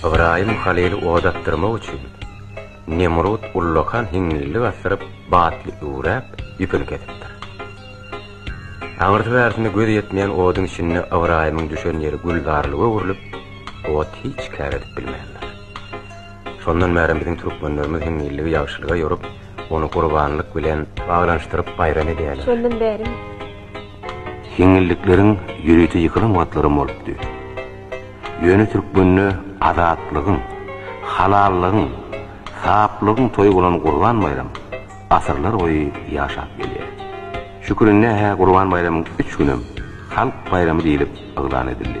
Ybraýym halyly oda dakdyrmak üçin, Nemrut ullakan hiňňillik asdyryp, batly üwräp, ýüpüni kesipdir. Aňyrsy-bärsine gözi ýetmeýän oduň içinde Ybraýymyň düşen ýeri gülzarlyga öwrülip, ot hiç kär edip bilmändir. Şondan bäri biziň türkmenlerimiz hiňňilligi ýagşylyga ýorup, ony gurbanlyk bilen baglanyşdyryp baýram edýärler. Şondan bäri. Hiňňillikleriň ýörite ýykylan wagtlaram bolupdy. Ýöne türkmende azatlygyň, halallygyň, saplygyň toýy bolan Gurban baýram asyrlar boýy ýaşap gelýär. Şükürinnähä Gurban baýramyň üç günem halk baýramy diýlip yglan edildi.